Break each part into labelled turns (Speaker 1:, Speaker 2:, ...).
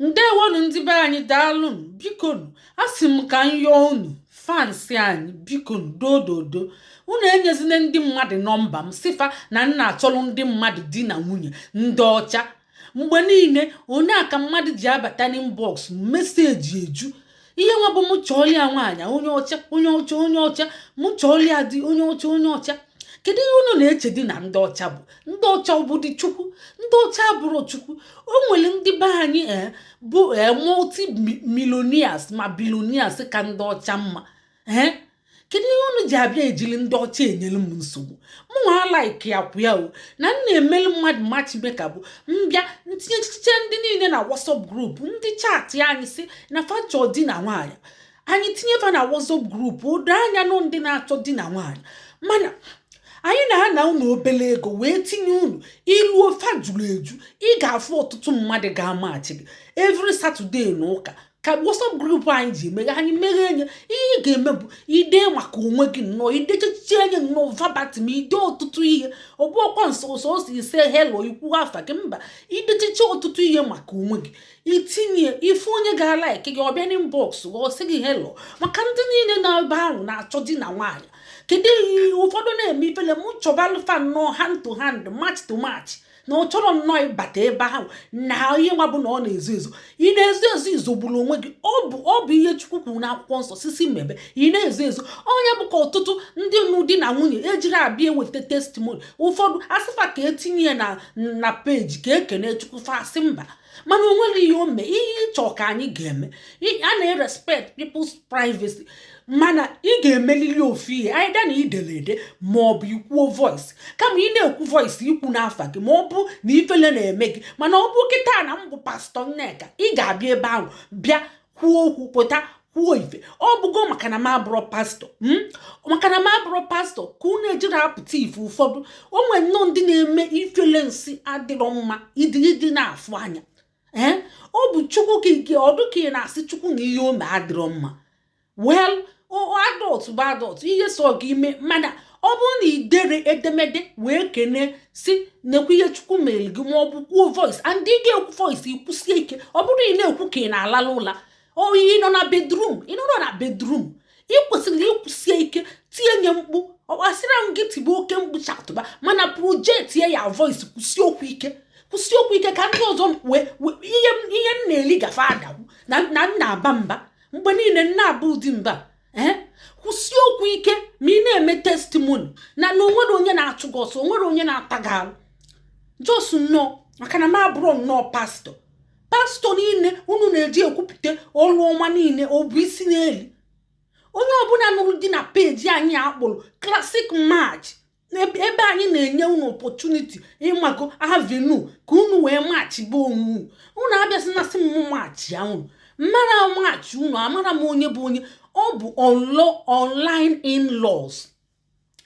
Speaker 1: ndewonu ndị be anyị daalụnụ bikonu a sị m ka m yọọ unu fans anyị bikonu dododo unu enyezina ndị mmadụ nọmba m sị fa na m na-achọrọ ndị mmadụ di na nwunye ndị ọcha mgbe niile ọ nya ka mmadụ ji abata n'inbox message eju ihe nwa bụ mụ chọọlị ya nwaanyị onye ọcha onye ọcha onye ọcha mụ chọọlị ya di onye ọcha onye ọcha kedu ihe unu na-eche dị na ndị ọcha bụ ndị ọcha ọ bụdị chukwu ndị ọcha abụrọ chukwu o nwere ndị be anyị e, bụ e, multi millionaires ma billionaires ka ndị ọcha mma ee kedu ihe unu ji abịa ejili ndị ọcha enyere m nsogbu mụnwa like ikwu ya o na m na-emeli mmadụ matchmaker bụ m bịa m tinyechicha ndị niile na WhatsApp group ndị chaatị anyị sị na fa chọ di na nwaanyị anyị tinye fa na WhatsApp group o doo anya n'ọ ndị na-achọ di na nwaanyị mana anyị na-ana unu obele ego wee tinye unu i luo fa juru eju ị ga-afụ ọtụtụ mmadụ ga-amachi gị every Saturday na ụka ka WhatsApp group anyị ji emeghe anyị meghe nya ihe ị ga-eme bụ ide maka onwe gị nnọọ idechichi nya nnọọ verbatim ide ọtụtụ ihe ọ bụrọkwa nsọsọ ịsị ịsị hello ikwu afa gị mba idechichi ọtụtụ ihe maka onwe gị i tinye ị fụ onye ga-alike gị ọ bịa n'inbox gị ọ sị gị hello maka ndị niile nọ ebe ahụ na-achọ di na nwaanyị kedu ihe ụfọdụ na-eme ifele m chọbalụ fa nnọọ hand to hand match to match na ọ chọrọ nnọọ ịbata ebe ahụ na ihe nwa bụ na ọ na-ezo ezo ị na-ezo ezo izogburu onwe gị ọ bụ ọ bụ ihe chukwu kwuru n'akwụkwọ nsọ sị sị mebe ị na-ezo ezo ọ nya bụ ka ọtụtụ ndị nụ di na nwunye ejirọ abịa eweta testimony ụfọdụ a sị fa ka e tinye ya na na page ka e kenee chukwu fa sị mba mana o nwerọ ihe o mee ihe ị chọ ka anyị ga-eme a na-erespect people's privacy mana ị ga-emelili ofu ihe either na i dere ede ma ọ bụ i kwuo voice kama ị na-ekwu voice i kwuna afa gị ma ọ bụ na ifele na-eme gị mana ọ bụ kịta na m bụ pastor nneka ị ga-abịa ebe ahụ bịa kwuo okwu pụtakwuo ife ọ bụgo maka na m abụrọ pastor hmm? maka na m abụrọ pastor ka unu ejirọ apụta ife ụfọdụ o nwere nnọọ ndị na-eme ifele na-asị adịrọ mma ịdị ịdị na-afụ anya ee eh? ọ bụ chukwu ka ike ọ dụ ka ị na-asị chukwu na ihe o mee adịrọ mma well adult bụ adult ihe sọ gị ị mee mana ọ bụrụ na i dere edemede wee kenee sị nekwa ihe chukwu mere gị ma ọ bụ kwuo voice and ị ga-ekwu voice i kwusie ike ọ bụrọ ị na-ekwu ka ị na-alala ụla oyi ị nọ na bedroom ị nọrọ na bedroom ị kwesịrị ikwusi ike tie nya mkpu ọ kwa asịrọ m gị tibe oke mkpu shoutụba mana project your voice kwusie okwu ike kwusie okwu ike ka ndị ọzọ ihe m na-eli gafe ada ekwu na m na-aba mba mgbe niile m na-aba ụdị mba ee eh? kwusie okwu ike ma ị na-eme testimoni na na onwere onye na-achụ gị ọsọ onwere onye na-ata gị alụ jos nnọọ maka na m abụrụ nnọọ pastọ pastọ niile unu na-eji ekwupụta ọrụ ọma niile ọ bụ isi n'elu onye ọbụla nụrụ di na peji anyị a kpọrọ Classic Match ebe anyị na-enye unu opọtuniti ịmago avenu ka unu wee machibe onwe unu abịasị na sị m machie unu mara machi unu amara m onye bụ onye ọ bụ online in laws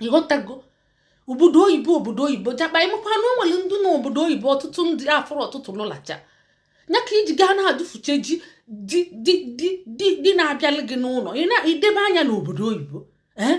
Speaker 1: ị ghọtago obodo oyibo obodo oyibo jakpa ị makwa na o nwere ndị na obodo oyibo ọtụtụ ndị afọrọ ọtụtụ lụlacha ya ka iji gaa na-adụfuche ji di na-abịalị gị n'ụlọ ị na-edebe anya n'obodo oyibo ee eh?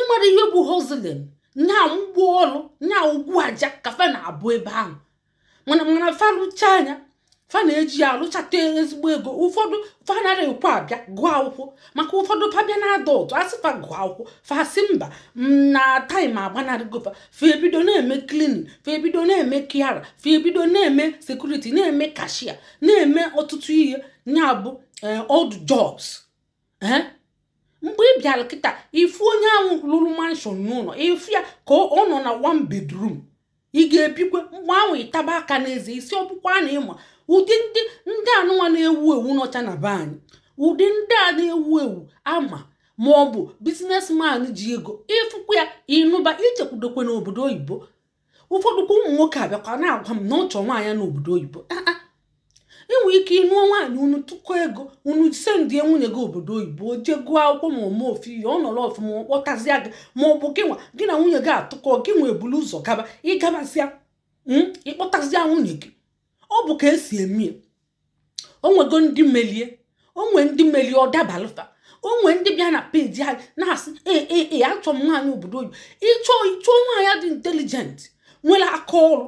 Speaker 1: ị mara ihe bụ hozlin nya ogbu ọrụ nya ogwu aja ka fa na-abụ ebe ahụ mana mana fa lụchaa nya fa na-eji ya alụchata ezigbo ego ụfọdụ fa anara ekwe abịa gụọ akwụkwọ maka ụfọdụ fa bịa na adult a sị fa gụọ akwụkwọ fa asị mba na taịm agbanarịgo fa fa ebido na-eme klinin fa ebido na-eme kiara fa ebido na-eme sekuriti na-eme kashia na-eme ọtụtụ ihe ya bụ eh, odd jobs mgbe ị bịara kịta ị fụ onye ahụ lụrụ manshọn n'ụlọ ị fụ ya ka ọ nọ na one bedroom ị ga-ebikwe mgbe ahụ ị taba aka n'eze ị sị ọ bụkwa na ị ma ụdị ndị ndị anụnwa na-ewu ewu n'ọcha na be anyị ụdị ndị a na-ewu ewu ama ma ọ bụ biznesman ji ego ị fụkwa ya ị nụba ichekwudokwe n'obodo oyibo ụfọdụ kwa ụmụ nwoke abịakwa na-agwa m na ọ chọọ nwaanyị n'obodo oyibo ah, ah. i nwere ike ị nụọ nwaanyị unu tụkọ ego unu sendie nwunye gị obodo oyibo jee gụọ akwụkwọ ma ọ mee ofu ihe ọ nọrọ ọfụma ọ kpọtazịa gị ma ọ bụ gị nwa gị na nwunye gị atụkọ gị nwa ebulu ụzọ gaba ị gabazịa hmm, ị kpọtazịa nwunye gị ọ bụ ka esi eme ya onwego ndị melie onwe ndị melie ọ dabalụ fa onwe ndị bịa na peji anyị na-asị ee ee ee achọ m nwaanyị obodo oyibo ịchọ ịchọ nwaanyị dị intelijent nwere aka ọrụ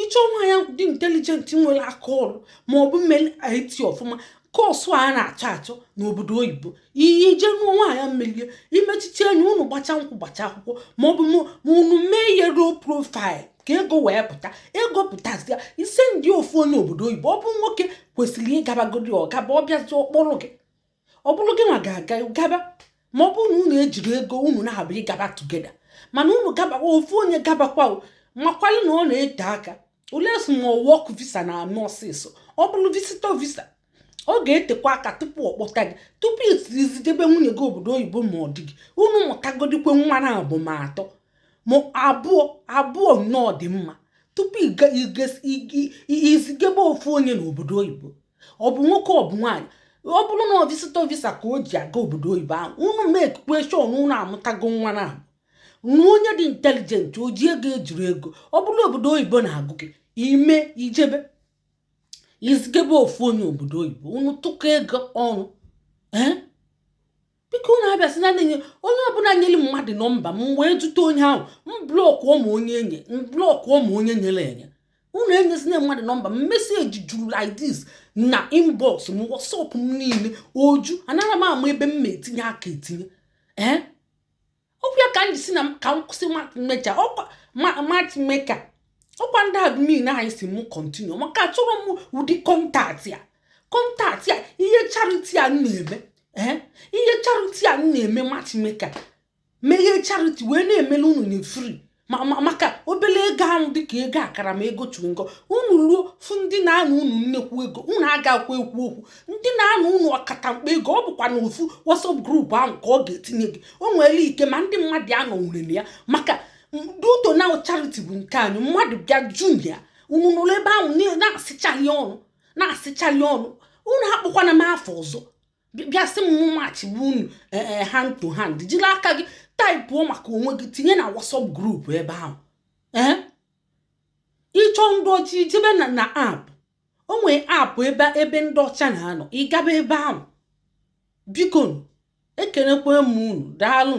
Speaker 1: ịchọ nwaanyị dị intelijent nwere aka ọrụ ma ọ bụ meli IT ọfụma kọsụ a na-achọ achọ n'obodo oyibo i jee nụọ nwaanyị melie i mechichie anya unu gbacha nkwụ gbacha akwụkwọ maọbụ ma unu mee ihe low profile ka ego wee pụta ego pụtazia i sendie ofu onye obodo oyibo ọ bụ nwoke kwesịrị ịgabagodi ọ gaba ọ bịazi ọ kpọrọ gị ọ bụrụ gị nwa ga-aga gaba ma ọ bụrụ na unu ejiri ego unu naabọ ịgaba tugeda mana unu gabawa ofu onye gabakwa makwalụ na ọ na-ete aka unless ma work visa na-abụ ọsịsọ ọ bụrụ visitor visa ọ ga-etekwa aka tupu ọ kpọta gị tupu izigebe nwunye gị obodo oyibo ma ọ dị gị unu mụtagodikwe nwa naabọ ma atọ ma abụọ abụọ nnọọ dị mma tupu izigebe ofu onye n'obodo oyibo ọ bụ nwoke ọ bụ nwaanyị ọ bụrụ na ọ visitor visa ka o ji aga obodo oyibo ahụ unu makekwa sure na unu amụtago nwa naabọ nụọ onye dị intelligent o ji ego ejiri ego ọ bụrụ na obodo oyibo na-agụ gị ime ijebe izigebe ofu onye obodo oyibo unu tụkọ ego ọnụ ee biko unu abịazina onye ọbụla nyere mmadụ nọmba m wee jụta onye ahụ m blọkụọ ma onye enye m blọkụọ ma onye nyere enye unu enyezina mmadụ nọmba m meseji juru like this na inbox m whatsapp m niile eju anaghị m ama ebe m na-etinye aka etinye ee ọkwa ya ka m ji sị na ka m kwụsị matchmaker ọkwa matchmaker ọkwa ndị admin anyị si m continue maka achọrọ m ụdị contact a contact a ihe charity a na-eme eh? ihe charity a na-eme matchmaker meghee charity wee na-emelu unu na free ma ma maka obele ego ahụ dịka ego akara ma ego chewing gum unu ruo fụ ndị na-ana unu nnekwu ego unu agakwa ekwu okwu ndị na-ana unu ọkata mkpa ego ọ bụkwa na ofu WhatsApp group ahụ ka ọ ga-etinye gị o nwere ike ma ndị mmadụ anọ nwere na ya maka due to na charity bụ nke anyị mmadụ bịa ju na ya unu nọrọ ebe ahụ na-asịchaghị ọnụ na-asịchaghị ọnụ unu akpọkwana m afọ ọzọ bịa sị m machibe unu eh, eh, hand to hand jiri aka gị taịpụọ maka onwe gị tinye na WhatsApp group ebe ahụ eh? ị chọ ndị ọcha i jebe na na app o nwere app ebe ebe ndị ọcha na-anọ ị gaba ebe ahụ biko ekenekwa m unu daalụ